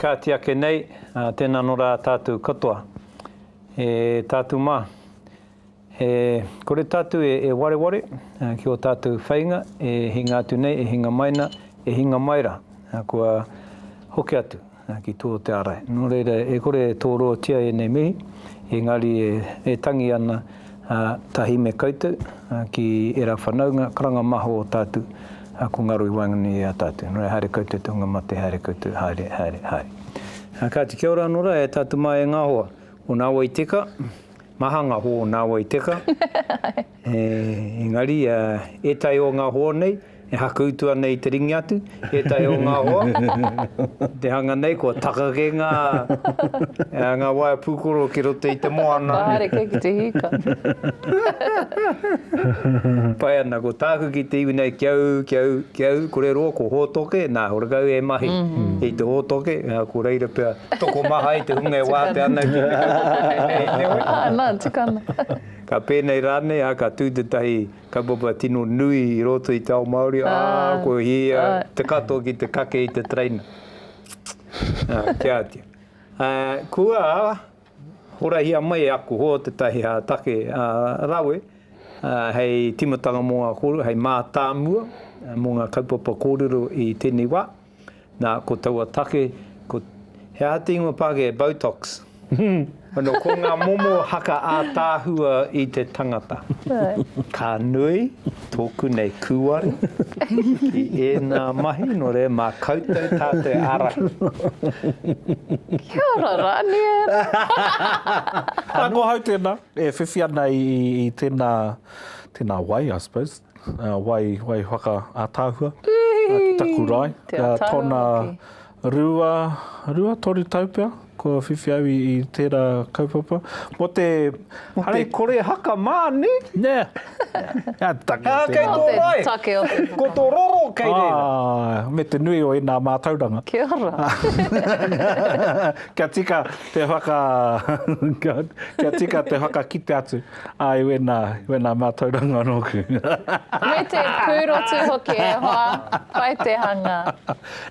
Ka ti ake nei, tena no ra tatu katoa. E tatu ma, e kore tatu e wareware ki o tatu whainga e hinga atu nei, e hinga mai na, e hinga mai ra, kua hoki atu. Na, ki tō te ara. Nō reira, e kore e tōroatia ēnei mihi, engari e tangi ana, ā, tahi me koutou, ā, ki ērā whanaunga, karanga maho o tātou, ā, ko ngaro i waenganui i a tātou. Nō reira, haere koutou te hunga mate, haere koutou, haere, haere, haere. Ā, kāti, kia ora anō rā e tātou māienga hoa, o nāua i teka, maha ngā hoa o nāua i teka. Engari, ētahi o ngā hoa nei, e haku utu ana i te ringa atu, ētahi o ngā hoa, i te hanga nei, kua takake ngā, ngā waea pūkoro ki roto i te moana. Ka haere ki te hika. Pai ana, ko tāku ki te iwi nei, kia ū, kia ū, kia ū, kore roa, ko Hōtoke, nā, horekau e mahi i te Hōtoke, ko reira pea, tokomaha i te hunga e wātea ana ki te Hōtoke nei, heoi. Āe, nā, tika ana. Ka pēnei rānei, ā, ka tū tētahi kaupapa tino nui i roto i te ao Māori, ā, ko ia te katoa ki te kake i te tereina. Ā, kia atu. Ā, kua horahia mai e aku hoa tētahi take rawe hei tīmatanga mō ngā kōrero, hei mātāmua mō ngā kaupapa kōrero i tēnei wā. Nā, ko taua take, ko, he aha te ingoa Pākehā e Botox? Anō, ko ngā momo haka ātaahua i te tangata. Ka nui tōku nei kūare ki ēnā mahi, nō reira, mā koutou tātou e ārahi. Kia ora, Ranier! Ā, ko ahau tēnā, e whiwhi ana i tēnā, tēnā wai, I suppose. wai, wai whaka ataahua, a ki taku rae. Te ataahua hoki. Tona rua, rua toru tau pea, kua whiwhi au i, i tera kaupapa. Mo te, mo te kore haka ma, ne? Ne. Nga te take o te rae. Nga te rae. Take o te rae. Ko to roro kei reira. Ae, me te nui o ena matauranga. Kia ora. Kia tika te whaka, kia tika te whakakite atu. Āe, wēnā, wēnā mātauranga nōku. Me te pūrotu hoki e hoa, pai te hanga.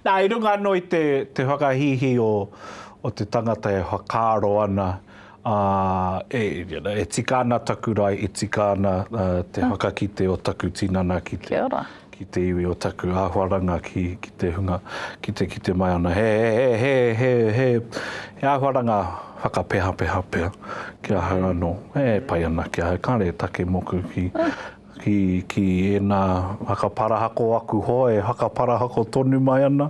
Nā, i runga anō i te, te whakahīhī o, o te tangata e whakaaro ana, ā, e, you know, e tika ana taku rae, e tika ana te whakakite o taku tinana ki te. Kia ora. ki te iwi o taku āhuaranga ki ki te hunga ki te kite mai ana he he he he he he āhuaranga whakapehapeha pea ki ahau anō e pai ana ki ahau kāre e take moku ki ki ki ēnā whakaparahako aku hoa e whakaparahako tonu mai ana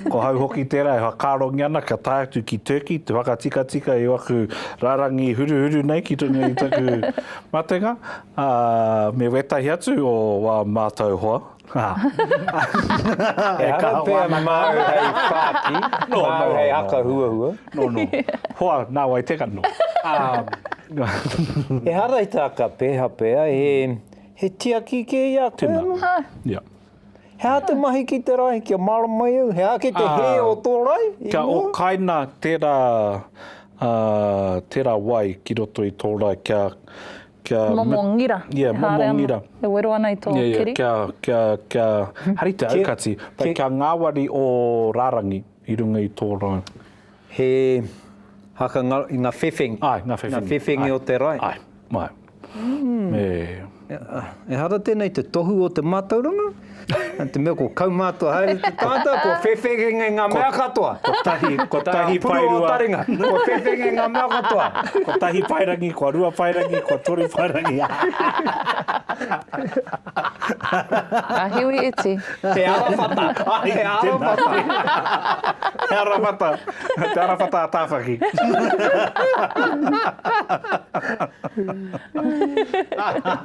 ko ahau hoki tērā e whakaarongia ana kia tae atu ki Turkey te whakatikatika i aku rārangi huruhuru nei ki runga i taku matenga Ā, me wētahi atu o wā mātau hoa, ā. Ehara pea māu hei whāki, māu hei haka huahua. Nō, nō. Hoa, nā wai teka, nō. Ehara i tā ka peha pea, he, he tiaki kē i a koe anō? Tēnā, ia. He aha te mahi ki te rae, kia mārama i au? He aha ki te hē o tō rae i mua? Kia okaina tērā, tērā wai ki roto i tō rae kia, Momo ngira, e haere ana, e wero ana i tō kiri. Kia hari te aukati, kia ngāwari ō rārangi i runga i tō rae. He haka ngā whewhengi. Āe, ngā whewhengi. Ngā whewhengi o te rae. Āe, āe. Ehara tēnei te tohu o te mātauranga? Nā te mea ko kaumātua haere te tangata, kua whewhenge ngā mea katoa. Kotahi, kotahi paerua. Kua whewhenge ngā mea katoa. Kotahi paerangi, kua rua paerangi, kua toru paerangi. Ka hiwi iti. Te arawhata. Te arawhata. Te arawhata. Te arawhata a Tāwhaki.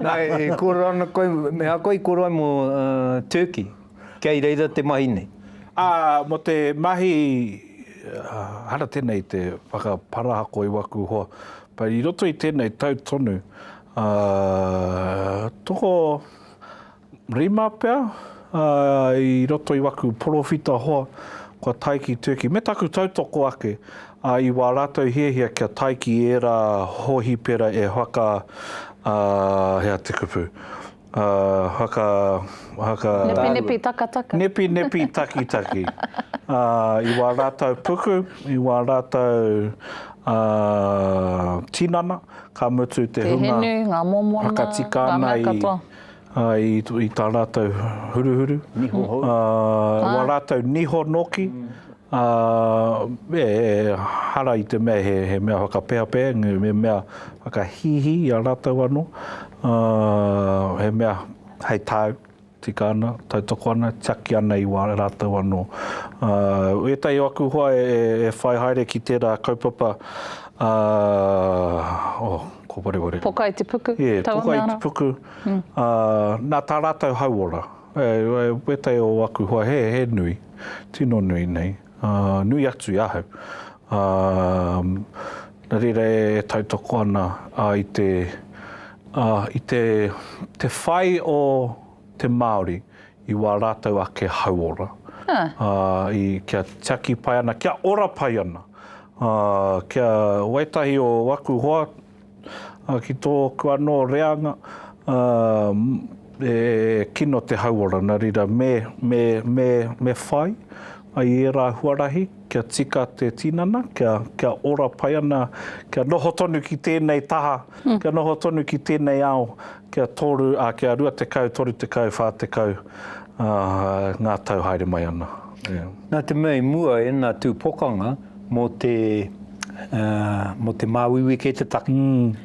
Nā, e kōrero ana koe, me ako i kōrero ai mō Turkey, kei reira te mahi nei. Ā, mō te mahi, hara tēnei te whakaparahako i waku hoa, but i roto i tēnei tau tonu, toko, Rima pea, ā, i roto i waku porowhita hoa, kua tae ki Turkey, me taku tautoko ake, ā, i wā rātou hiahia kia tae ki ērā hōhipera e whaka, ā, hea te kupu, ā, whaka, whaka. Nepinepi takataka. Nepinepi takitaki, ā, i wā rātou puku, i wā rātou, ā, tinana, ka mutu te hunga. Te hinu, ngā momo ana, ngā mea katoa. i tā rātou huruhuru, wā rātou niho nōki, e hara i te mea he mea whakapēhapēha, he mea whakahīhī i a rātou anō, he mea hei tāu, tika ana, tautoko ana, tiaki ana i wā rātou anō. Ētahi o aku hoa e whai haere ki tērā kaupapa, Ko Wareware. Poka i te puku, yeah, taua mea rā. Poka i te puku. Mm. Uh, nā tā rātou hauora. E, e, wētai o aku hoa he, he nui. Tino nui nei. Uh, nui atu i ahau. Uh, nā reira e, e tautoko ana uh, i te... Uh, i te, te whai o te Māori I wā rātou ake hauora. Ā, i, kia tiaki pai ana, kia ora pai ana. Ā, kia, wētahi o aku hoa, ā, ki tōku anō reanga, ā, e kino te hauora, nā reira me, me, me, me whai ai i ērā huarahi. kia tika te tinana, kia, kia ora pai ana, kia noho tonu ki tēnei taha, kia noho tonu ki tēnei ao, kia toru, ā, kia rua tekau, toru tekau, whā tekau, ā, ngā tau haere mai ana. Ē. Nā te mea i mua ēnā tū pokanga mō te, ā, mō te māuiui kei te take,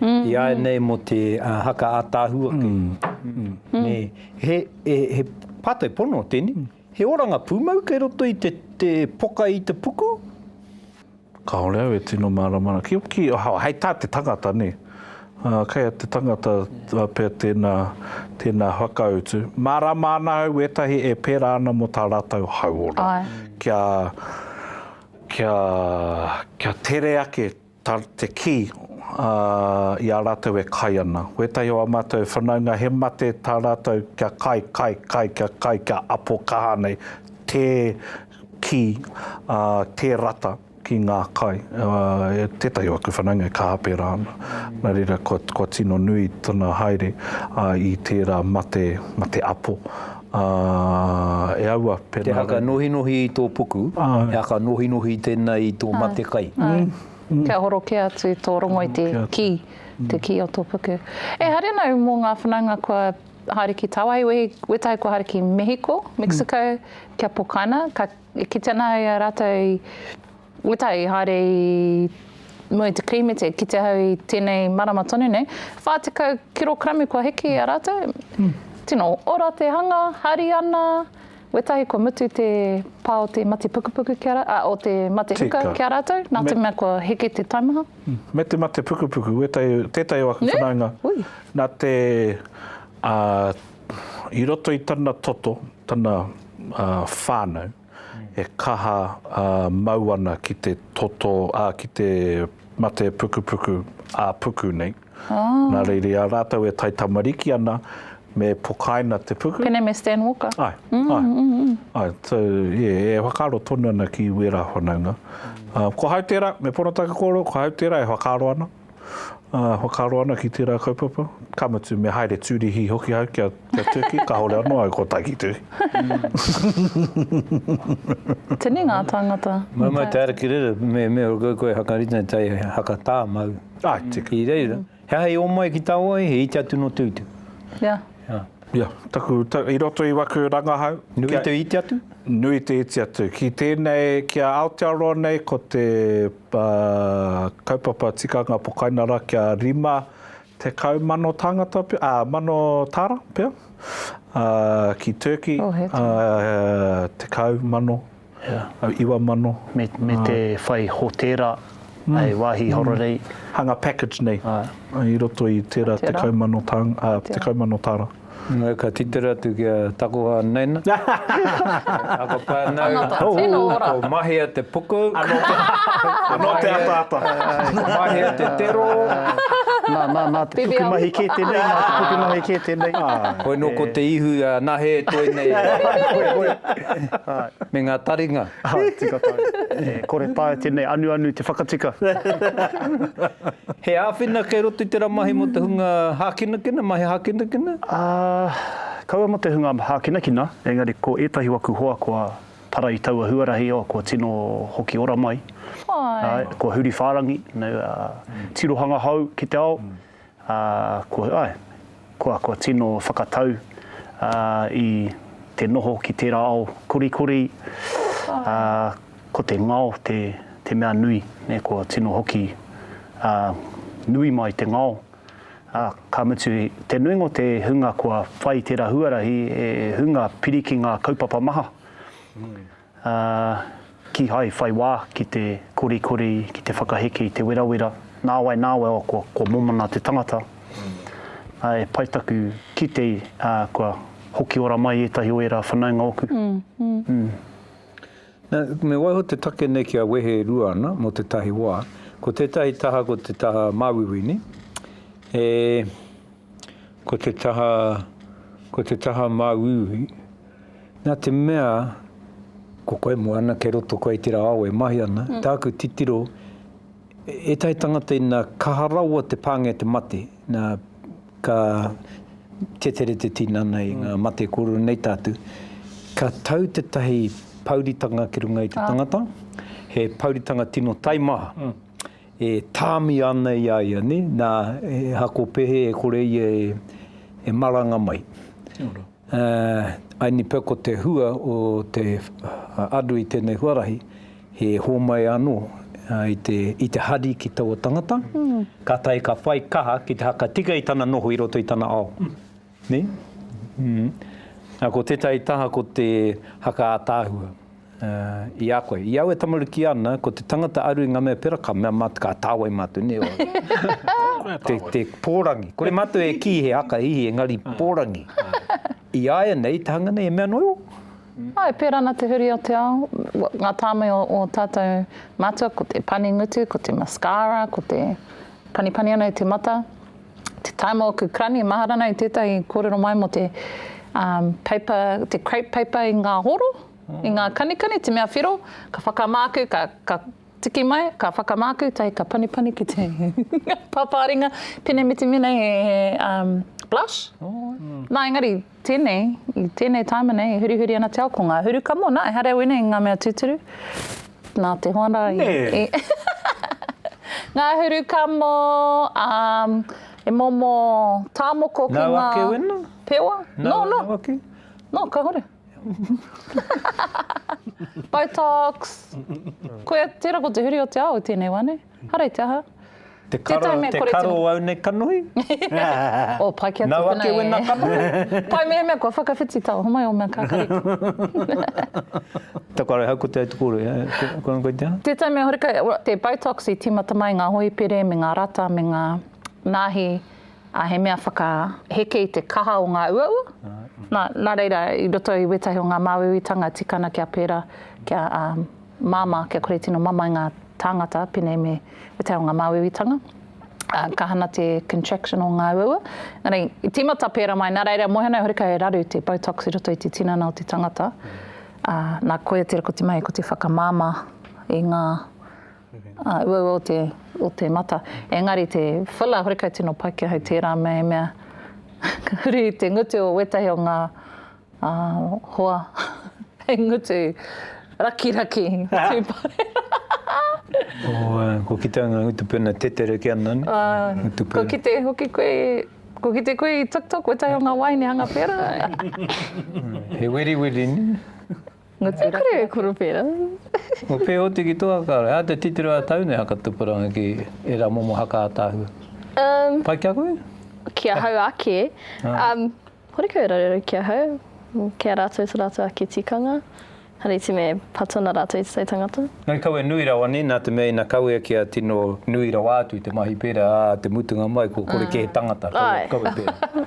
iāianei mō te haka ātaahua kei te take, nē. He, he, he pātai pono tēnei, He oranga pūmau kei roto i te te poka i te puku? Kāore au e tino mārama ana. Ki, ki, hei tā te tangata, nē. Kei a te tangata pea tēnā, tēnā whakautu. Mārāma ana au ētahi e pērā ana mō tā rātou hauora. Āe. Kia, kia, kia tere ake. Ta te ki i a ratou e kai ana. Wetahi o a matou whanaunga he mate ta ratou kia kai, kai, kai, kia kai, kia apo kaha nei te ki, te rata ki nga kai. Tetahi o aku whanaunga e kaha pera ana, na reira kua tino nui tana haere i tera mate, mate apo. Ā, e aua, pēnā rānei. Te whakanōhinohi i tō puku, he whakanōhinohi tēnei i tō matekai. Āe, kia horokea atu tō rongo i te kī, te kī o tō puku. E haere nau mō ngā whanaunga kua haere ki tāwāhi, wehi, wētahi kua haere ki Mehiko, Mexico, kia pokaina, ka, e kite ana ai a rātou i. Wetai, haere i mua i te Kirīmete, ki te hau i tēnei marama tonu nei, 40 kirokramu kua hiki i a rātou. Tino ora te hanga, hari ana, wētahi kua mutu te pā o te mate pukupuku ki a rātou, ā, o te mate huka ki a rātou, nā te mea kua hiki te taimaha. Me te mate pukupuku, wētahi, tētahi o aku whanaunga, nā te, i roto i tana toto, tana whānau, e kaha mau ana ki te toto, ā, ki te mate pukupuku ā-puku nei. Nā reira, i a rātou e taitamariki ana, me pokaina te puku. Pēnei me Stan Walker. Āe, āe. Āe, so, e whakaaro tonu ana ki wērā whanaunga. Ko Hauterā, me Pono Takakoro, ko Hauterā e whakaaro ana. Ā, whakaaro ana ki tērā kaupapa, ka mutu me haere tūrihi hoki au kia, kia Turkey, kāore anō au kua tae ki Turkey. Tēnei ngā tāngata. Mau mai te ara ki reira, me, me koe, koe Hakarita tae haka tā mau. Ai, tika. I reira, he aha i omai ki tāua ai, he iti atu nō Tuitu. Ia. Ia. Ia, taku, ta, i roto i waku rangahau. Nui te iti atu? Nui te iti atu. Ki tēnei, ki a Aotearoa nei, ko te. Ba, Kaupapa Tikanga Pokainara kia 50 mano tāngata pea, ā, mano tāra pea, ā, ki Turkey, Oh, he ā, tekau mano, au, iwa mano. Me, me te whai hotēra, hei wāhi horarei. Hanga package nei. Ai. I roto i tērā tekau mano tāng, ā, tekau mano tāra. Engari ka titiro atu ki a takoha Naina. Ako whanau. Tangata tino ora. Ko Mahia te puku. Ano te ataata. Ko Mahia te tero. Na, na, na te pukumahi ke tenei, na te pukumahi ke tenei. Koe no ko te ihu a Nahe e toe nei. Koe, koe, koe. Me nga taringa. Hai tika tau. E kore taea tenei anuanu te whakatika. He āwhina kei roto i tera mahi mo te hunga hākinakina, mahi hākinakina? Ah, kaua mo te hunga hākinakina, engari ko etahi waku hoa kua para i taua huarahi, oh, kua tino hoki ora mai. Hai. Hai, kua huri whārangi, nau, ah, tirohanga hou ki te ao, Ā, kua, āe, kua, kua tino whakatau, ā, i te noho ki tērā ao korikori, ā, ko te ngao te, te mea nui, nē, kua tino hoki, ā, nui mai te ngao, ā, ka mutu, te nuinga o te hunga kua whai tērā huarahi, he hunga piri ki ngā kaupapa maha. Ā, kīhai whai wā ki te korikori, ki te whakaheke i te werawera, nāwai nāwai o kua, kua momona te tangata. Ā, e pai taku kite, ā, kua hoki ora mai ētahi o ērā whanaunga oku. Ū. Nā, me waiho te take nei kia wehe e rua ana mō tētahi wā. Ko tētahi taha ko te taha māuiuini, e, ko te taha, ko te taha māuiui. Nā te mea, ko koe moana, kei roto koe i tērā ao e mahi ana, tāku titiro, ētahi tangata ina kaha rawa te pāngia te mate, nā, ka tetere te tinana i ngā mate kōrero nei tātu, ka tau tētahi pouritanga ki runga i te tangata, he pouritanga tino taimaha, e tāmia ana i a ia, nē, nā, e hako pehe e kore ia e maranga mai. Kia ora. Ā, ine pea ko te hua o te aru i tēnei huarahi, he hōmai anō i te hari ki taua tangata, kātahi ka whai kaha ki te haka tika i tana noho i roto i tana ao. Nē? Ā, ko tētahi taha ko te haka ātaahua. I a koe. I au e tamaruki ana, ko te tangata aru i nga mea pera ka mea matou ka tawai matou ne oe. Te porangi. Kore matou e ki he haka hihi engari porangi. I aia nei te hanga nei e mea noa o. Ai, e pērā ana te huri o te ao, ngā tāmai o ō tātou mātua, ko te pani ngutu, ko te mascara, ko te panipani ana i te mata. Te tae mō aku karani e mahara ana i tētahi kōrero mai mō te paper, te crepe paper i ngā horo. I ngā kanikani te mea whiro, ka whakamāku, ka, ka tiki mai, ka whakamāku, tae ka panipani ki te pāpāringa, pēnei me te mea nei he, he um, blush. Nā, engari, tēnei, i tēnei tāima nei, e hurihuri ana te ao, ko ngā huru kamo, nā, ehara au ēnei ngā mea tūturu, nā te hoa rā. Nē! I, ngā huru kamo, um, e momo tāmoko ki ngā... Nau ake wena? Pewa? Nau, no, no. Nau ake? No, ka hore. Botox! Koia, tērā ko te huri o te ao i tēnei wā, nē? Hara i te aha? Te karo, te karo o au nei kanohi? Oh, pai ki a tēnei. Nau ake wena kanohi? Pai mehemea kua whakawhiti taua homai o mea kakari. Taku are hau ko Te Aitukouri, koina koe te aha? Tētahi mea horekau, te Botox i tīmata mai ngā hoipere me ngā rata me ngā nāhi Ā, he mea whakaheke i te kaha o ngā uaua. Nā, nā reira, i roto i wētahi o ngā māuiuitanga tikana kia pērā, kia māmā, kia kore tino mamae ngā tāngata, pēnei me wētahi o ngā māuiuitanga, ā, ka hana te contraction o ngā uaua. Nā reira, i tīmata pērā mai, nā reira, moe ana e hori kau e raru te Botox i roto i te tinana o te tangata, ā, nā, koia tērā ko te mahi, ko te whakamāmā i ngā Ā, uaua o te, o te mata. Engari te filler, horekau tino paikea hei tērā mea, ka huri te ngutu o wētahi o ngā ā, hoa hei ngutu rakiraki tūpare. Ō, kua kitea ngā ngutu pēnā tetereke ana, nē? Ā, kua kite hoki koe, kua kite koe i TikTok wētahi o ngā waini hanga pērā. He weriweri, nē? Ngutu Raki. E kore e koro pērā. Kua pēhoti ki tō haka ora. Ā, te titiro a tau nei haka tupuranga ki ērā momo haka ātaahua. Um. Pai ki a koe? Ki ahau ake. Ah. Um, horekau e raruraru ki ahau, ki a rātou to rātou ake tikanga. Hariti me pato na rātou i te tai tangata. Nui kawe nui rawa nei, nā te mea ina kawea kia tino nui rawa atu te mahi pērā, ā, te mutunga mai kua kore kē he tangata, kawe, kawe pērā.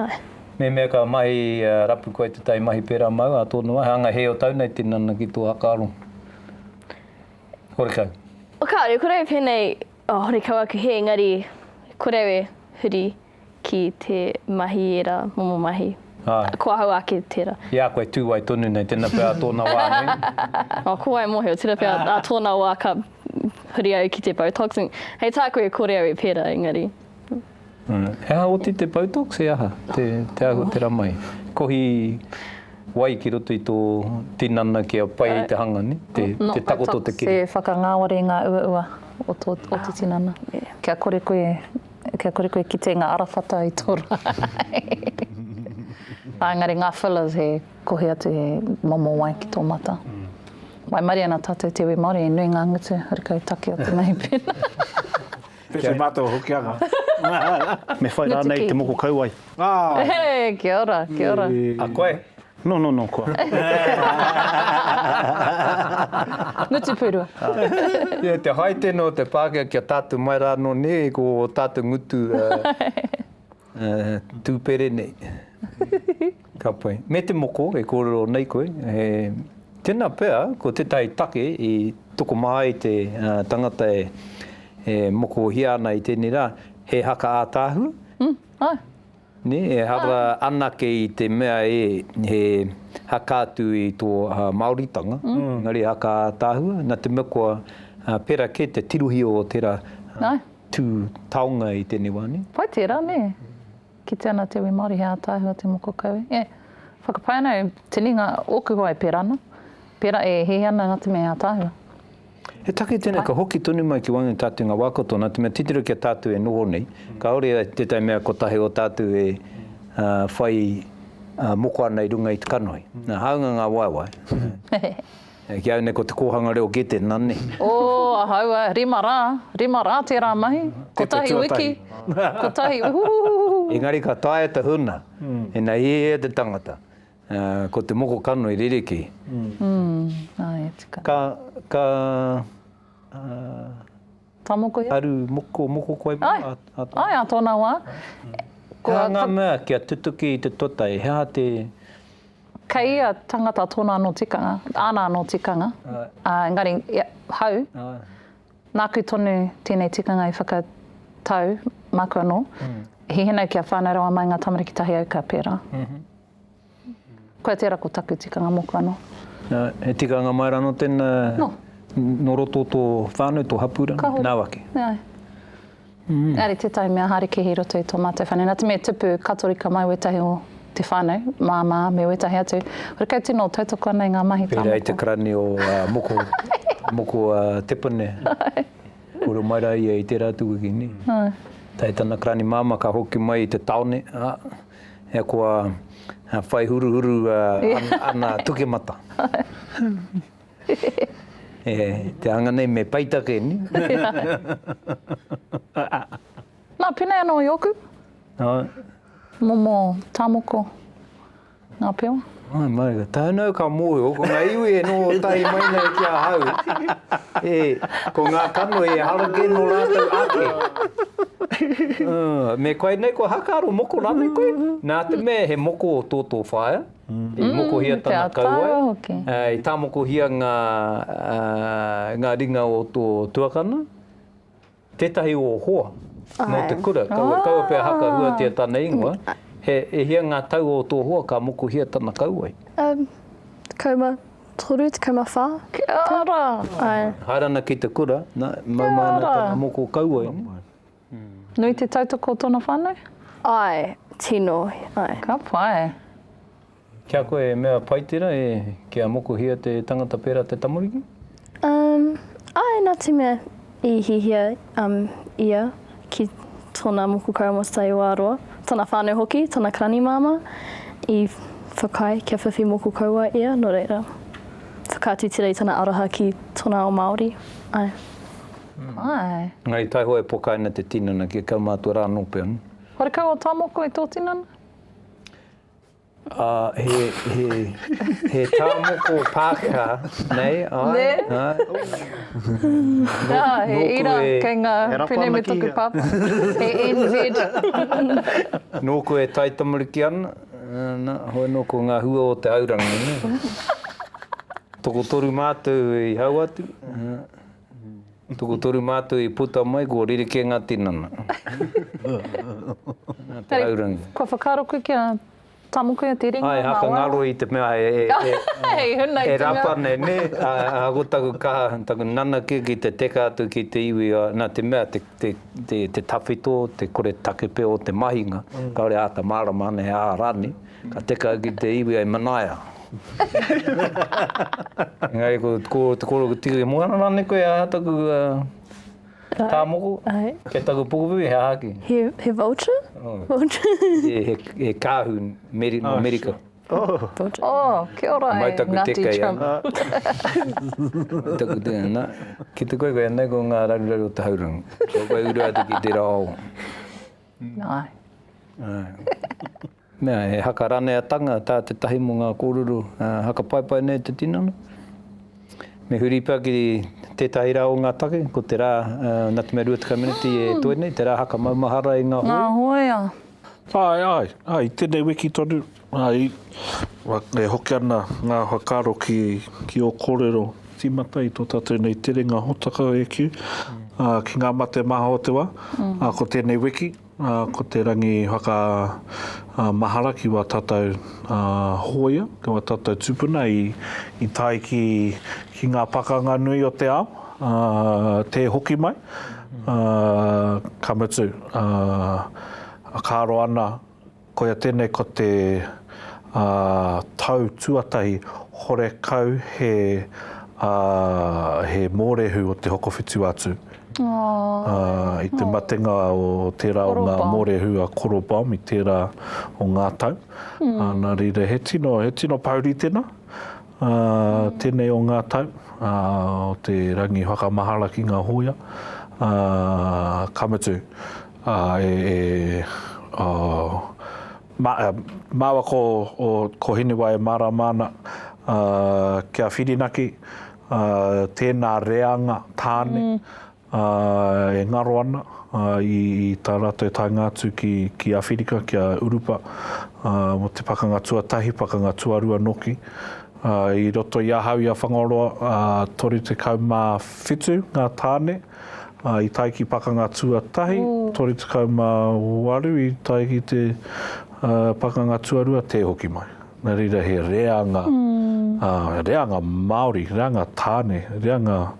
Āe. Me mea ka mahi rapu koe te tai mahi pera mau a tonu ai hanga he o tau nei tinana ki to hakaro. Horekau. O kaore kore e penei o horekau aku he engari kore e huri ki te mahi era momo mahi. Ae. Ko ahau ake tera. I a koe tu wai tonu nei tena pea a tona wa nui. O ko wai mohio tena pea a tona wa ka huri au ki te botox hei taku e kore au e pera engari. He aha oti te Botox, he aha te ahutera mai? Kohi wai ki roto i tō tinana kia pai ai te hanga, ne? Te takoto te kiri. Not Botox, e whakangāwari ngā uaua o tō tinana. Kia kore koe, kia kore koe kite ngā arawhata i tō rā. Ēngari ngā fillers he kohi atu he momo wai ki tō mata. Waimarie ana tātou te iwi Māori, he nui ngā ngutu, horekau take o te mahi pēnā. Pēwhai. Kia mātou o Hokianga. Me whai rānei te moko kauae. Āe. Kia ora, kia ora. A koe? No, no, no, kua. Ngutu pūrua. Ia te hai tēnei o te Pākehā kia tātou mai rā anō nē, ko ō tātou ngutu tūpere nei. Ka pai. Me te moko e kōrero nei koe, he tena pea ko tetahi take i tokomā ai te tangata e mokohia ana i tenei ra, he haka ātaahua. Mm, ae. Ne, e hara anake i te mea e, he haka atu i to Maoritanga, engari he haka ātaahua, na te mea kua pera ke te tirohia o tera tu taonga i tenei wa ne. Pai tera ne. Kite ana te iwi Māori he ātaahua te moko kawe. E whakapae ana e Tini ngā oku hoa e pērā ana, pērā e hē ana nā te mea he ātaahua. He take tēnei ka hoki tonu mai ki waenga i tātou i ngā wā katoa, nā te mea titiro ki a tātou e noho nei, kāore tētahi mea kotahi o tātou e whai moko ana i runga i te kanohi. Nā, hāunga ngā waewae. Ki au nei ko te kōhanga reo Gete, na ne. O, ahau a, rima rā, rima rā tērā mahi, kotahi wiki, kotahi, uhuhuhuhuhu. Engari ka taea te huna, ina hiahia te tangata, ko te moko kano i ririki. Ka, ka, ka, Ka moko ia? Aru moko, moko koe pea ā tōna wā. Ai, ā tōna wā. He aha ngā mea kia tutuki i te totai, he aha te. Kei ia tangata tōna anō tikanga, āna anō tikanga, engari hau, nāku tonu tēnei tikanga i whakatau, māku anō, hihina kia whānau rawa mai ngā tamariki tahi au ka pērā. Koia tera ko taku tikanga moku ano. Na, he tikanga mai ra no tena. No. No roto o to whanau, to hapu ra, na wake. Aye. Engari tetahi mea haere kehi i roto i to matou whanau. Na te mea i tupu, katorika mai wetahi o te whanau, mama me wetahi atu. Hore kai tino tautoko ana i nga mahi ka moku. Pera i te karani o moko, moko a Tepone. Aye. Kore mai ra ia i tera atu wiki, ni? Aye. Tae tana karani mama ka hoki mai i te taone, a. Ahakoa whai huruhuru ana tukemata. Te anga nei me peita kē ni. Na, penei ano i oku. Momo tamoko nga pewa. Mai, mai, ka tānau ka mōhio, ko ngā iwi e noho tahi mai nei ki ahau, e, ko ngā kanohi e hara kē nō rātou ake. Uh, me koe nei, kua haka aro moko rānei koe? Nā te mea he moko o tō tō whaea, i mm, mokohia tana kauae, uh, i tāmokohia ngā, uh, ngā ringa o tō tuakana, Tētahi o hoa nō te kura, kaua pea haka huatia tana ingoa, he e hia ngā tau o tō hoa ka mokuhia tana kauae? Um, tekau ma toru, tekau ma wha. Kia ora! Ai. Haere ana ki te kura, na, mau mai ana tana moko kauae. Nui te tautoko o tōna whānau? Ai, tino, ai. Ka pai. Ki a koe e mea pai tera e kia mokohia te tangata pera te tamariki? Um, ae, na te mea i hihia um, ia ki tona moko kaumatai o Aroa, tana whanau hoki, tana karani mama, i whakaae kia whiwhi moko kauae ia, no reira, whakaatu tera i tana aroha ki tona ao Maori, ae. Mm. Ae. Engari taihoa e pokaina te tinana kia kaumatua ra no pea. Wharekau o Tamoko i to tinana? Ā, he, he, he tā moko Pākehā nei, āe? Nē? Āe. Ā, he ira kei ngā pene me tōku pāpā. He NZ. Nōku e taitamariki ana, nā, hoi nō ko ngā hua o te haurangi, nē? Tokotoru mātou i hau atu, ā. Tokotoru mātou i puta mai ko Rerekē ngā tinana. Nā te raurangi. Kua whakaaro koe kia tamukia te ringa ngā wai? Āe, haka ngaro i te mea e rapa nei, nē? Ā, ko taku kaha, taku nana kē ki te teka atu ki te iwi, nā te mea te tawhito, te koretake pea o te mahinga, kāore āta mārama ana e ā rānei. Ka teka ki te iwi ai manaia. Engari ko te koro ka tika ki mua, nana nei koe aha taku ka moko, kei taku pukupuku he aha ki? He vulture? He kahu no Amerika. Oh, kia ora e Ngati Trump. Mai taku teka ai. Na, ki te koe koe nei ko nga raruraru o te haurangi. Ko koe uru atu ki tera ao. Nai. Mea, he haka raneatanga tā tētahi mō ngā kōrero haka paepae nei te tinana. Me huri pea ki tētahi rā o ngā take, ko te rā nā te mea 20 meneti e toe nei, te rā haka maumahara i ngā hōia. Āe, āe, āe, i tēnei wiki tonu, āe, e hoki ana ngā whakaaro ki ō kōrero. Tīmata i tō tātou nei terenga hōtaka e kī, ki ngā mate maha o te wā, ko tēnei wiki. Ā, ko te rangi whaka, ā, mahara ki wā tātou, ā, hōia, ki wā tātou tūpuna i, i tae ki, ki ngā pakanga nui o te ao, ā, tē hoki mai, ā, ka mutu, ā, ā, ka aro ana. Koia tēnei ko te tau tuatahi horekau he mōrehu o te Hokowhitu atu. I te matenga o tērā o ngā mōrehu a Koro Baum i tērā o ngā tau. Nā reira, he tino pouri tēnā, tēnei o ngā tau o te rangi whakamahara ki ngā hōia. Ka mutu, Ā, e, e, ā, mā, ā, māua ko, o, ko Hinewa e mārāma ana, ā, kia whirinaki, ā, tēnā reanga tāne, ā, e ngaro ana, ā, i, i tā rātou taenga atu ki, ki Āwhirika, ki a Urupa, ā, mō te Pakanga Tuatahi, Pakanga Tuarua nōki. Ā, i roto i ahau i a Whangaroa, ā, 37 ngā tāne. ā, i tae ki Pakanga Tuatahi, 38 i tae ki te Pakanga Tuarua, tē hoki mai. Nā reira he reanga, reanga Māori, reanga tāne, reanga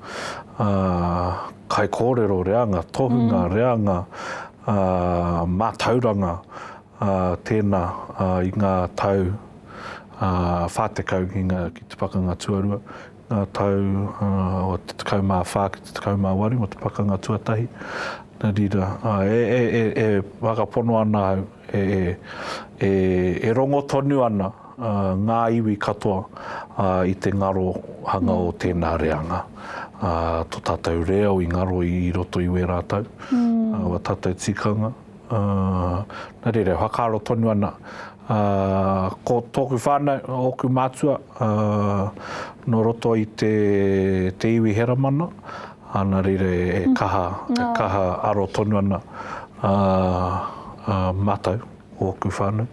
kaikōrero, reanga tohunga, reanga mātauranga tēnā i ngā tau whā tekau ki te Pakanga Tuarua. ngā tau o te 14 ki te 18 mō te pakanga tuatahi, nā reira, e whakapono ana au, e rongo tonu ana ngā iwi katoa i te ngaro hanga o tēnā reanga. Tō tātou reo i ngaro i roto i wērā tau, wā tātou tikanga. Nā reira, e whakaaro tonu ana ko tōku whānau, ōku mātua nō roto i te iwi Heramana, nā reira e kaha, e kaha aro tonu ana mātou, ōku whānau,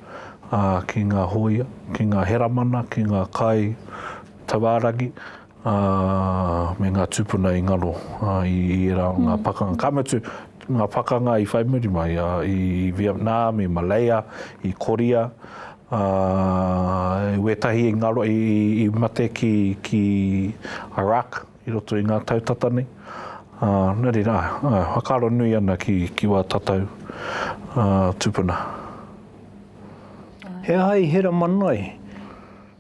ki ngā hōia, ki ngā Heramana, ki ngā kai tauāragi. ā, me ngā tūpuna i ngaro i ērā o ngā pakanga, ka mutu, ngā pakanga i whai muri mai, ā, i Vietnam, i Malaya, i Korea, ā, wētahi i ngaro, i, i mate ki, ki Iraq, i roto i ngā tau tata nei. Ā, nō reira, ā, ā, whakaaro nui ana ki, ki wā tatau, ā, tūpuna. He aha i hera mana ai?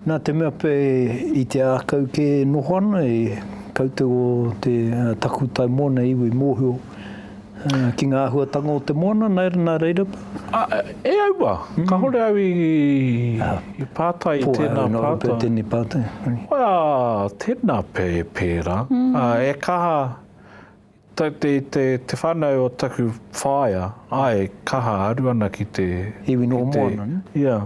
Nā te mea pea i te ākau kē e noho ana, e koutou o te takutai moana iwi i mōhio ki ngā āhuatanga o te moana, nā reira pea. Ā, e aua, kāore au i pātai i tēnā pātai. Pō, āe, nō reira pea tēnei pātai. Ā, tēnā pea e pērā, ā, e kaha. Te, te, te whanau o taku whaea, ae, kaha, aru ana ki te. Iwi noho moana, ne? Ia,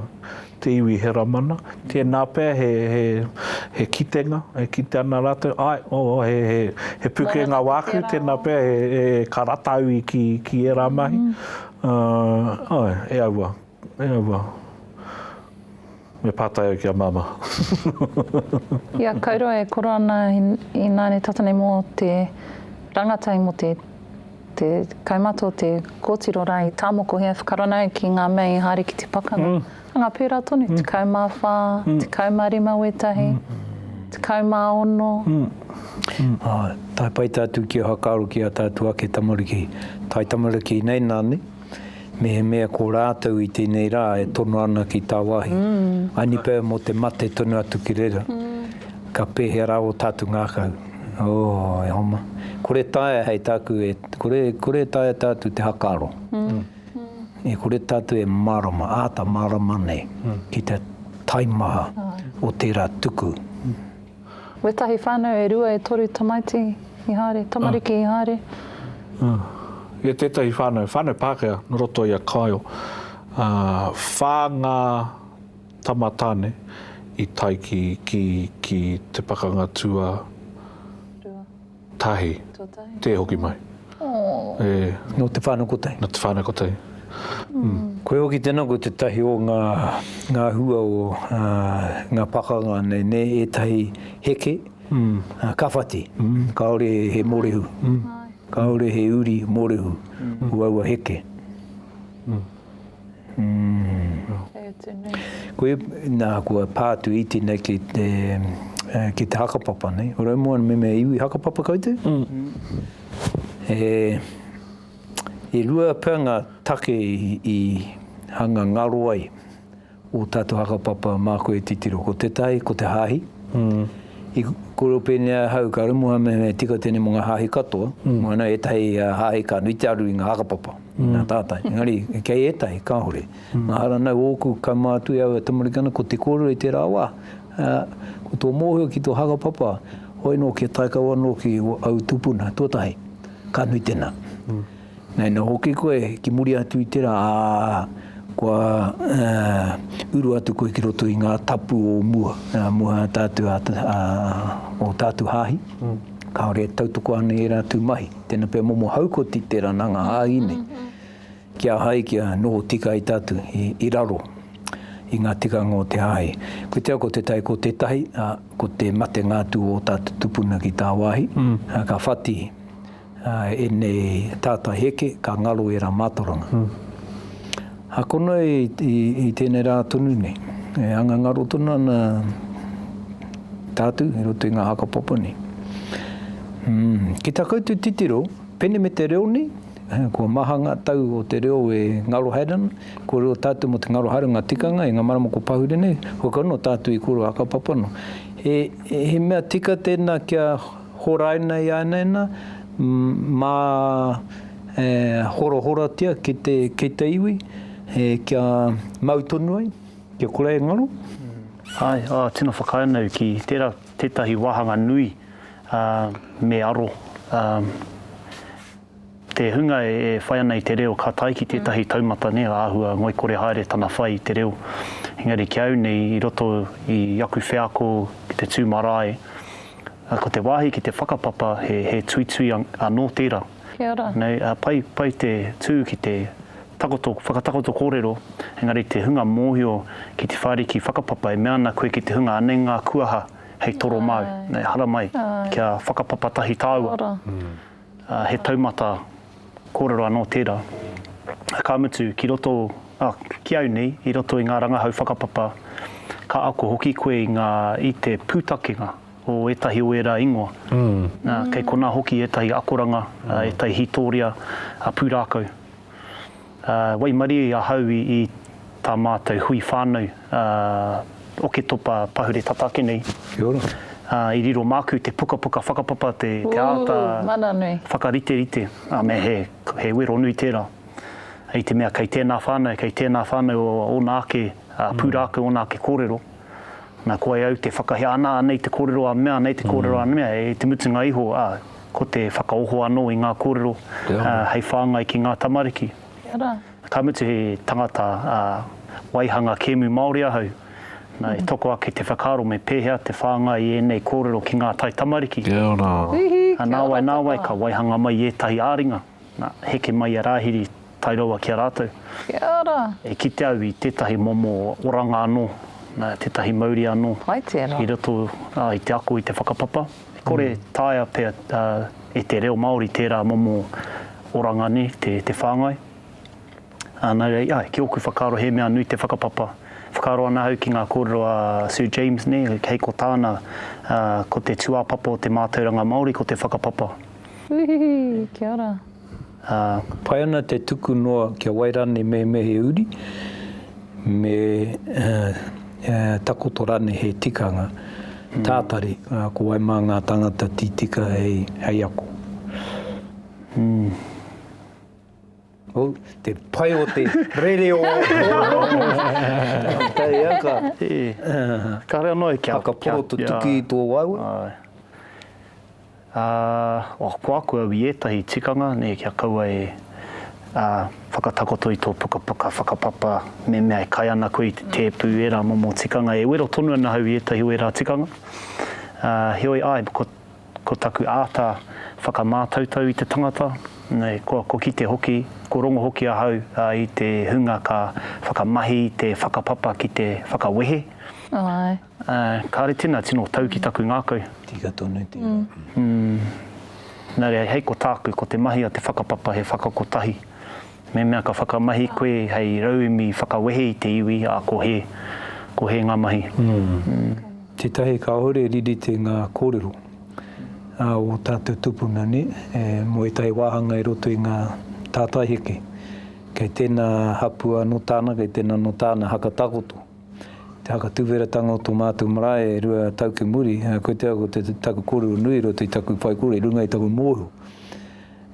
te iwi Heramana. Tēnā pea he, he, he kitenga, e kite ana ratou, ae, o, o, he, he, he pukenga wāku, tēnā pea he, he, ka rata au i ki, ki ērā mahi. Ā, ae, e aua. E aua. Me pātai au ki a Māmā. I a Kaurua e koro ana ināne tata nei mō te rangatai mō te te kaumata o te kōtiro rā i tāmokohia e whakarana ai ki ngā mea i haere ki te pakanga. Anga pērā tonu, tekau mā whā, tekau mā rima wētahi, tekau mā ono. Tāpaeta atu ki a Hakaaro ki a tātou ake tamariki, taitamariki nei nāne. mehemea ko rātou i tēnei rā e tono ana ki tāwāhi. Mm. I nipa e mō te mate tonu atu ki reira. Mm. Ka pēhea rā o tātou ngākau. Oh, e homa. Kore taia hei tāku, e, kore, kore taia tātou te hakaro. Mm. E kore tātou e marama, āta marama nei, mm. ki te taimaha mm. o tērā tuku. Mm. Wetahi whanau e rua e toru tamaiti i haere, tamariki i haere. I a tetahi whanau, whanau Pakea no roto i a Kaio, wha nga tama tane i taiki ki te pakanga tua. Tahi. Te hoki mai. No Te Whanokotei. No Te Whanokotei. Koe hoki tena ko tetahi o nga nga hua o nga pakanga nei ne etahi heke ka whati kaore he morehu kaore he uri morehu o aua heke. Koia, nā, kua pā atu i tēnei ki te, ki te hakapapa, nei. Ora moa me mea iwi hakapapa koutou? E, e rua pea ngā take i, i hanga ngaro ai. Ō tātou hakapapa māku e titiro, ko te tai, ko te hāhi. I kōrero pēnei ai ahau, ka rumuha mehemea e tika tēnei mō ngā hāhi katoa, moana ētahi hāhi ka nui te aru i ngā hakapapa, i ngā tātai. Engari, kei ētahi, kāore. Mahara nau ōku kaumā atu e au e tamariki ana, ko te kōrero i tērā wā, ko tō mōhio ki tō hakapapa, hoi nō kia tae kau anō ki au tūpuna, tuatahi, ka nui tēnā. Nei noa hoki koe ki muri atu i tera, a, kua uru atu koe ki roto i nga tapu o mua, mua tatu a, a, o tatu hahi, kaore e tautoko ana i era atu mahi. Tena pea momo haukoti tera na nga hahi nei, ki a hai kia noho tika ai tatu i, i raro i nga tikanga o te hahi. Koe te ako te tai ko tetahi, a, ko te matenga atu o tatu tupuna ki tawahi, a, ka whati, Enei tata heke ka ngaro era matoranga. A kono i tenei ra tonu nei e anga ngaro tonu ana tatu i roto i nga hakapapa nei. Ki ta koutou titiro, pene me te reo nei, kua maha nga tau o te reo e ngaro haere ana, ko reo tatu mo te ngaro haere nga tikanga i nga marama ko Pahure nei, hoi kau no tatu i koro hakapapa no. He mea tika tena kia Horaina i ānaina, mā e horahoratia ki te, ki te iwi, e kia mau tonu ai, kia kore ai ngaro. Āe, ā, tino whakaae ana au ki tērā tētahi wāhanga nui, ā, me aro, ā. Te hunga e whai ana i te reo ka tae ki tētahi taumata nē āhua ngoikore haere tana whai i te reo. Engari ki au nei i roto i aku wheako ki te tū marae, ko te wāhi ki te whakapapa he tuitui anō tērā. Kia ora. Pai te tū ki te whakatakoto kōrero, engari te hunga mōhio ki te whāriki whakapapa e mea ana koe ki te hunga anei ngā kuaha hei toro māu. Haramai kia whakapapa tahi tāua. He taumata kōrero anō tērā, ka mutu, ki roto, ā, ki au nei, i roto i ngā rangahau whakapapa, ka ako hoki koe i ngā, i te pūtakenga o ētahi o ērā ingoa. Nā, kei konā hoki ētahi akoranga, ētahi hītōria pūrākau. Waimarie i ahau i tā mātou hui whānau Oketopa pahure tata ake nei. Kia ora. I riro māku te pukapuka whakapapa te āta whakariterite, ā, me he wero nui tērā. I te mea kei tēnā whānau, kei tēnā whānau ōna ake pūrākau, ōna ake kōrero. Na, ko ai au te whakahea, ana, ana i te kōrero a mea, ana i te kōrero a mea, e te mutunga iho, a, ko te whakaoho anō i ngā kōrero, a, hei whāngai ki ngā tamariki. Ka mutu he tangata, a, waihanga kēmu Māori ahau, na, e toko ake te whakaaro me pēhea te whāngai i ēnei kōrero ki ngā taitamariki. Nāwai, nāwai ka waihanga mai i ētahi ā-ringa. Na, heke mai a Rahiri tae rawa ki a ratou. Kia ora! E kite au i tetahi momo oranga ano, na, tetahi mauri ano i roto i te ako i te whakapapa. E kore e taea pea e te reo Maori tera momo oranga nei te whangai. Ā, nā reira, āe, ki ōku whakaaro he mea nui te whakapapa. Whakaaro ana au ki ngā kōrero a Sir James nei, hei ko tāna, ā, ko te tūāpapa o te mātauranga Māori ko te whakapapa. Uhuhu! Kia ora. Ā. Pai ana te tuku noa ki a Wairane Mehemehe Uri me takoto rānei he tikanga tātari, ko wai mā ngā tāngata tītika hei ako. Oh, te pai o te rere o Tei a ka. Kare ano e kia. Whakaporo to tuki i to waewa. Aye. Ah, oh, ko aku au i etahi tikanga, ne, kia kaua e, ah, whakatakoto i to pukapuka whakapapa, me mea e kai ana koe i te tepu, era momo tikanga, e wero tonu ana au i etahi o era tikanga. Ah, heoi, aye, ko. Ko taku āta whakamātautau i te tangata, ko kite hoki, ko rongo hoki ahau i te hunga ka whakamahi i te whakapapa ki te whakawehe. Kāre tēnā tino tau ki taku ngākau. Tika tonu tērā. Nā reira, hei ko tāku, ko te mahi a te whakapapa he whakakotahi. Mehemea ka whakamahi koe hei rauemi whakawehe i te iwi, a, ko hē, ko hē ngā mahi. Umm. Tētahi kāore e riri te ngā kōrero a ō tātou tupuna, nē, mō ētahi wāhanga i roto i ngā tātai heke. Kei tēnā hapua anō tāna, kei tēnā anō tāna haka takoto. Te haka tuwheratanga o tō mātou marae e rua tau ki muri, koia ko te taku kōrero nui i roto i taku whaikōrero, i runga i taku mōhio.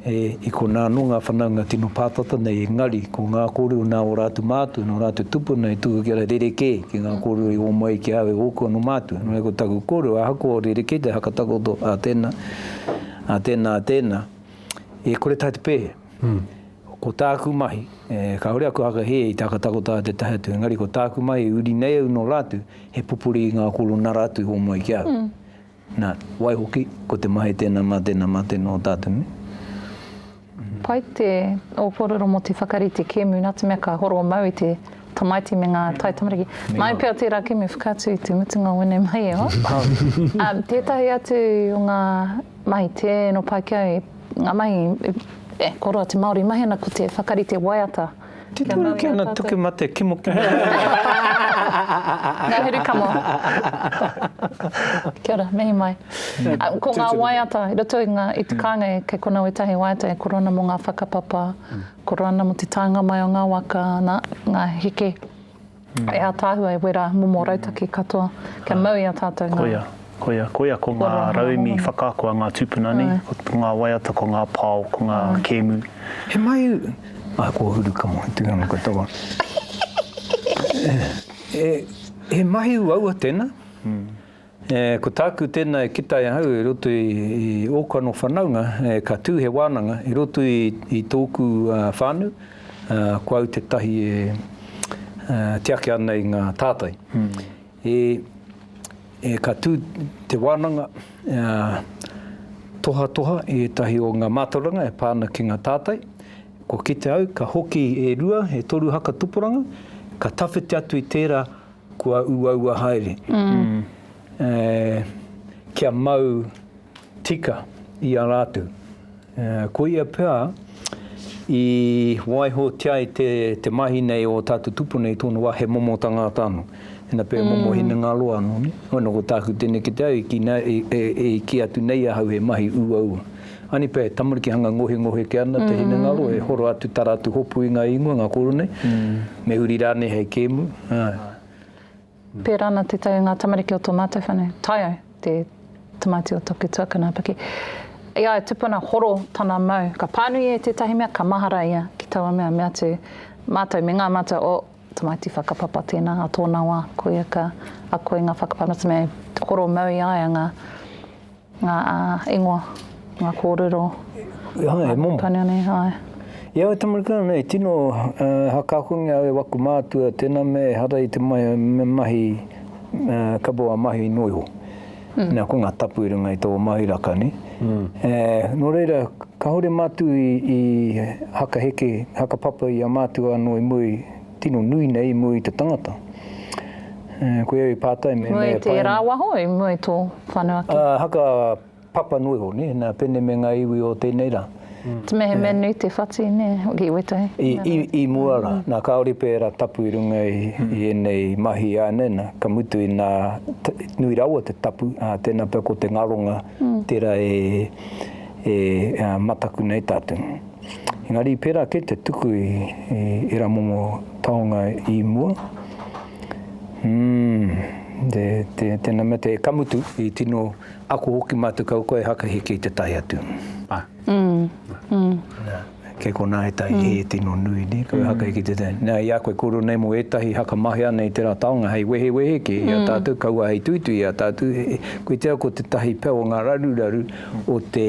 E, i konā anō ngā whanaunga tino pātata nei, engari, ko ngā kōrero nā ō rātou mātua, nō rātou tupuna e tuku ki a rerekē, ki ngā kōrero i ōmai ai ki a au e ōku anō mātua. Nō reira ko taku kōrero, ahakoa o rerekē te hakatakoto a tēnā, a tēnā, a tēnā, e kore tahi te pēhea. Ko tāku mahi, e, kāore aku hakahē i te hakatakoto a te tahi atu, engari ko tāku mahi e uri nei au nō rātou, he pupuri i ngā kōrero nā rātou i ōmai ai ki a au. Na, waihoki, ko te mahi tena ma tena ma tena o tatu me. Pai te o korero mo te whakarite kemu na te mea ka horo mau i te tamaiti me nga taitamariki. Mai pea tera kemu whakaatu i te mutunga o enei mahi e hoa. Um, tetahi atu o nga mahi teno pai ki au, nga mahi e koroa te Maori mahi ana ko te whakarite waiata. Kia mau ki a tātou. Tiki mate, kimokimo. Nga huru kamo. Kia ora, mihi mai. Ko nga waiata i roto i te kainga kei kona wetahi waiata e koro ana mo nga whakapapa, koro ana mo te taenga mai o nga waka, na, nga heke. E ataahua e wera momo rautaki katoa kia mau i a tatou nga. Koia, koia, koia ko nga rauemi whakaako a nga tupuna nei, ko nga waiata, ko nga pao, ko nga kemu. He mahi a kohuru ka mohi tui ano katoa. He mahi uaua tena. E, ko tāku tēnā e kitai ahau i roto i, i ōku anō whanaunga, e, ka tū he wānanga i roto i, i tōku uh, whānau, uh, ko au tētahi e uh, tiaki ana i ngā tātai. Mm. E, e, ka tū te wānanga uh, tohatoha i ētahi o ngā mātauranga e pāna ki ngā tātai. Ko kite au, ka hoki e rua, e toru haka tuporanga, ka tawhiti atu i tērā kua uaua haere, kia mau tika i a rātou. Koia pea, i waihotia ai te mahi nei o tātou tupu nei, tōna wā, he momo tangata anō. Ina pē, momo hinengaro anō. Nō ko tāku tenekete au, i kī atu nei ahau he mahi uaua. Anipe, tamariki hanga ngohengohe ke ana te hinengaro e horo atu tara atu hopu i nga ingoa, nga koro nei, me huri ranei hei kemu, ae. Pera ana te tau i nga tamariki o to matou whanau. Taiau, te tamaiti o toku tuakana a Piki. I a ia tupuna horo tana mau, ka panui e tetahi mea ka mahara ia ki taua mea, me atu matou me nga matou, oh, tamaiti whakapapa tena a tona wa, koia ka ako i nga whakapapa, me horo mau i a ia nga Ngā ingoa, ngā kōrero. He aha, he momo. Pāniu nei, āe. I aua tamariki nei, tino hakakongia au e waku mātua, tēnā mea ehara i te mahi, kapo a mahi noa iho. Nā, ko ngā tapu i runga i tō mahi raka, nē. Nō reira, kāore mātou i hakaheke, hakapapa i a mātou anō i muri, tino nui nei i mua i te tangata. Koia i pātai me... Mua i te rāwaho, i mua i tō whanua ki? Haka papa noa iho, nē, nā Pene me ngā iwi o tēnei rā. Te mehemea nui te whati, nē, hoki i Waitangi. I mua rā, nā kāore pērā tapu i runga i ēnei mahi ānei nā, ka mutu i nā, nui rawa te tapu, ā, tēnā pea ko te ngaronga tērā e mataku nei tātou. Engari pērā kē te tuku i ērā momo taonga i mua. Umm, te, te, tēnā mea te ka mutu, i tino ako hoki mātou kau koe haka heke i te tae atu. Ah. Mm. Mm. Kei konā ētahi mm. he tino nui, ne? Kau mm. haka heke i te tae. Nā, i a koe kōrero nei mō ētahi haka mahi ana i tērā taonga, hei wehe wehe kē mm. i a mm. tātou, kaua hei tuitui i a tātou. Koe te au ko te tahi pau o ngā raruraru o te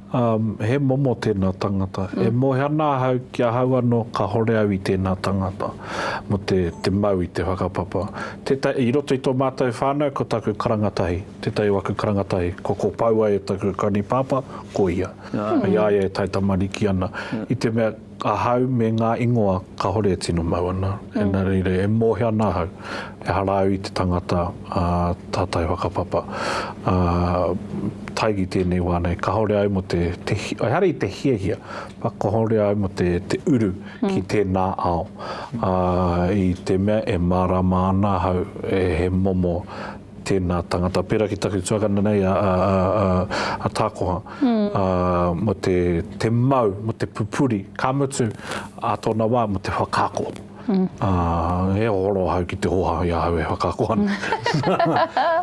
Um, he momo tēnā tangata. Mm. E moe ana ahau ki ahau anō, kahore au i tēnā tangata. Mo te, te mau i te whakapapa. Teta, I roto i tō mātou whānau, ko taku karanga tahi, tētahi o aku karanga tahi, ko ko Paua e taku kaunipāpā, ko ia. Mm. Hei a ia e taitamariki ana. Mm. I te mea, Ahau me ngā ingoa kāore e tino mau ana, nā reira e mōhio ana ahau, ehara au i te tangata tātai whakapapa. Tae ki tēnei wā nei, kāore au mō te, ehara i te hiahia, kāore au mō te uru ki tēnā ao, i te mea e mārāma ana ahau he momo tēnā tangata, pērā ki taku tuakana nei a, a, a, a, a Tākoha, mm. a, mo te, te mau, mo te pupuri, ka mutu, a tōna wā, mo te whakako. Mm. A, he horo hau ki te hoha i ahau e whakako ana.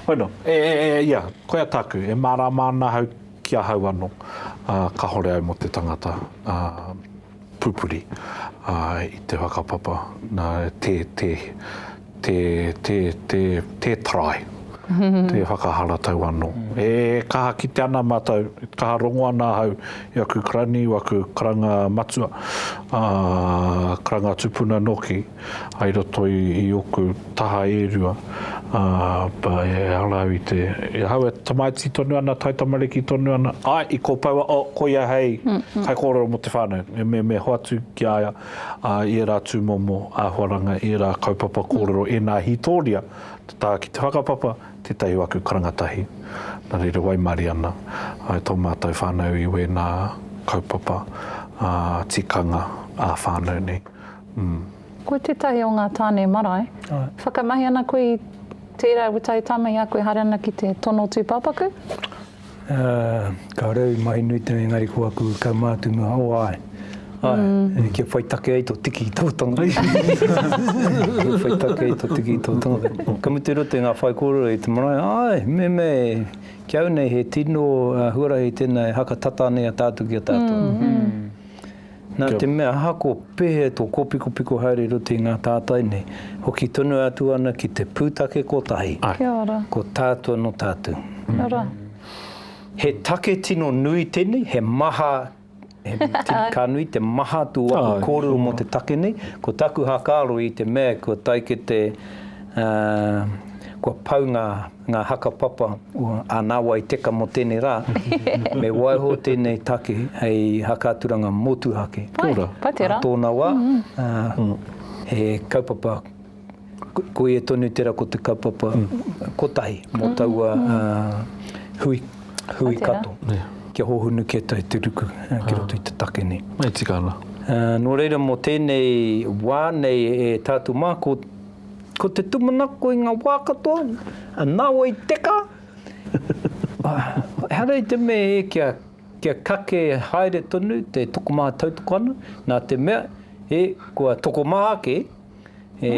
bueno, e, e, e, ia, koe a tāku, e mārāma ana hau ki ahau ano, a, ka hore au mo te tangata. A, pupuri i te whakapapa, tē, tē, tē, tē, tē, tē tarai, tē whakaharatau anō. E kaha kite ana mātou, e kaha rongo ana ahau i aku karani, i aku karanga matua, ā, karanga tupuna nōki. hai roto i oku taha e rua, ā, e ara au i te, i ahau e tamaiti tonu ana, taitamariki tonu ana, āe, i kopoua, o, ko ia hei kaikōrero mō te whānau, e mehemea hoatu ki a ia, ā, i ērā tūmomo āhuaranga, i ērā kaupapa kōrero, ēnā hītōria, te taha ki te whakapapa, tētahi o aku karanga tahi. Nā reira, waimarie ana ai tō mātou whānau i wēnā kaupapa, ā, tikanga ā-whānau nei. Ko tētahi o ngā tāne marae. Whakamahi ana koe i tērā e wetae tama i a koe haere ana ki te tono tūpāpaku? Kāore au i mahi nui tonu engari ko aku kaumātua o āe. Āe, kia whai take ai tō tiki i tō tonga. Kia whai take ai tō tiki i tō tonga. Ka mutu i roto i ngā whaikōrero i te marae, āe, meme, ki au nei he tino huarahi tēnā e haka tata nei a tātou ki a tātou. Nā te mea hako pehe tō kōpikopiko haere i roto i ngā tātai nei, hoki tonu atu ana ki te pūtake kotahi, ko tātua nō tātou. He take tino nui tēnei, he maha, ka nui te maha tū aku kōrero mō te take nei, ko taku hākaro i te mea kua tae ki te, kua pau ngā. ngā haka papa o ānāwai teka mō tēnei rā, me waiho tēnei take hei haka aturanga motuhake. Kia ora. Pai, pai tērā. Nā tōna wā, he kaupapa, ko ia tonu tērā ko te kaupapa kotahi mō taua hui, hui kato. Pai tērā. Kia hōhonu kē tai te ruku ki roto i te take nei. E tika ana. Nō reira mō tēnei wā nei e tātou mā, ko. Ko te tūmanako i ngā wā katoa, nā wai teka! Ehara i te mea e kia kake haere tonu te tokomaha tautoko ana, nā te mea e kua tokomaha ake e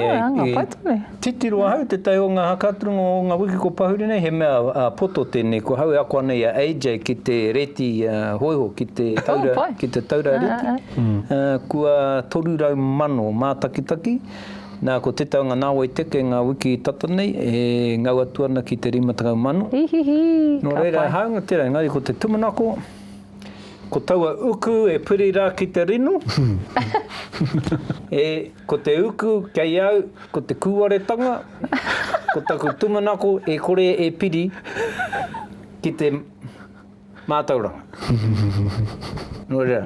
titiro ahau tētahi o ngā haka aturanga o ngā wiki kua pahuri nei, he mea poto tēnei ko hau e ako ana i a AJ ki te reti hōiho, ki te taura reti, kua toru rau mano mātakitaki. Nā, ko Te Taunga Nāwai Teke ngā wiki tata nei e ngau atu ana ki te rima tekau mano. Ihihi, Nō reira, he hāunga tērā, engari ko te tumanako, ko taua uku e piri rā ki te rino, e, ko te uku kei au, ko te kūwaretanga, ko taku tumanako e kore e piri ki te. Mātauranga. Nō reira,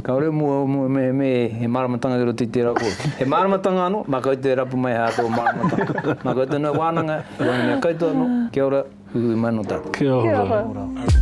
kāore mua mua mehemē he māramatanga ki roto i tērā kōrero. He māramatanga anō, mā koutou e rapu mai hā tō māramatanga. Mā koutou nō wānanga, i waenga mea koutou anō, kia ora, uiui mai nō tātou. Kia ora. Kia ora.